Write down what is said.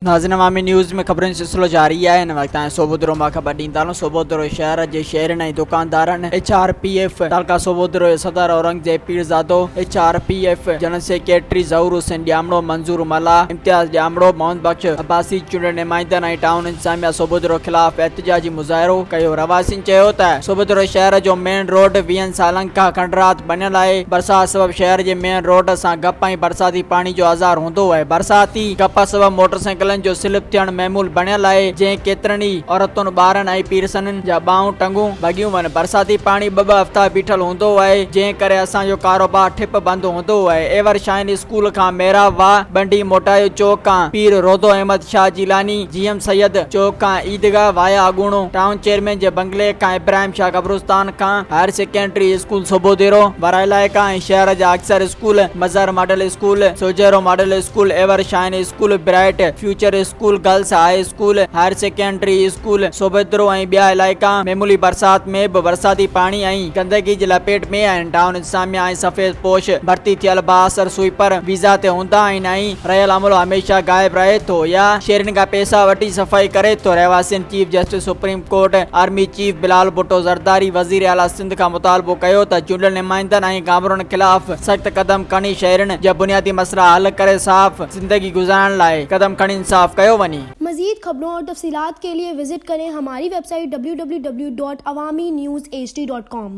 ناظرين عوامي نيوز ۾ خبرن جو سلسلو جاري آهي هن وقت تائين سوبودرو مان خبر ڏيندا آهيون سوبودرو شهر جي شهرين ۽ دڪاندارن ايڇ آر پي ايف تعلقه سوبودرو جي صدر Aurangzeb Pirzado H R P F general secretary Zahoor Hussain Jamro Manzoor Mallah Imtiaz Jamro Muhammad Bux Abbasi چونڊيل نمائندن ۽ ٽائون انتظاميا سوبودرو خلاف احتجاجي مظاهرو ڪيو رهواسين چيو ته سوڀدرو شهر جو مين روڊ ويهن سالن کان کنڊرات بنيل آهي برسات سبب شهر جي مين روڊ سان گپ ۽ برساتي پاڻي جو آزار هوندو آهي برساتي گپ سبب موٽرسائيڪلن جو سلپ ٿيڻ معمول بنيل آهي جنهن ڪيترن ئي عورتن ٻارن ۽ پيرسنن جا ٻانهون ٽنگون ڀڳيون وڃ برساتي پاڻي ٻه ٻه هفتا بيٺل هوندو آهي جنهن ڪري اسان جو ڪاروبار ٺپ بند هوندو آهي ايور شاهين اسڪول کان محراب واهه بنڊي موٽايو چوڪ کان پير روضو احمد شاهه جيلاني جي ايم سيد چوڪ کان عيدگاهه وايا اڳوڻو ٽائون چيئرمين جي بنگلي کان ابراهيم شاهه قبرستان کان higher secondary school Sobhodero وارا علائقا ۽ شهر جا اڪثر school Mazhar model school Sujhro model school ever shine school bright future school girls high school higher secondary school Sobhodero ۽ ٻيا علائقا معمولي برسات ۾ به برساتي پاڻي ۽ گندگي جي لپيٽ ۾ آهن ٽائون انتظاميا ۽ سفيد پوش ڀرتي ٿيل بااثر سوئيپر ويزا تي هوندا آهن ۽ رهيل عملو هميشه غائب رهي ٿو يا شهرين کان پئسا وٺي صفائي ڪري ٿو رهواسين chief justice supreme court army chief Bilal Bhutto Zardari وزير اعليٰ سنڌ کان مطالبو ڪيو ته چونڊيل نمائندن ۽ گامرن خلاف سخت قدم کڻي شهرين جا بنيادي مسئلا حل ڪري صاف زندگي گذارڻ لاء قدم کڻي انصاف ڪيو وڃي. مزيد خبرون اور تفصيلات کے لئے وزٽ ڪرين ھماري website W W W dot Awami news H D dot ڪام.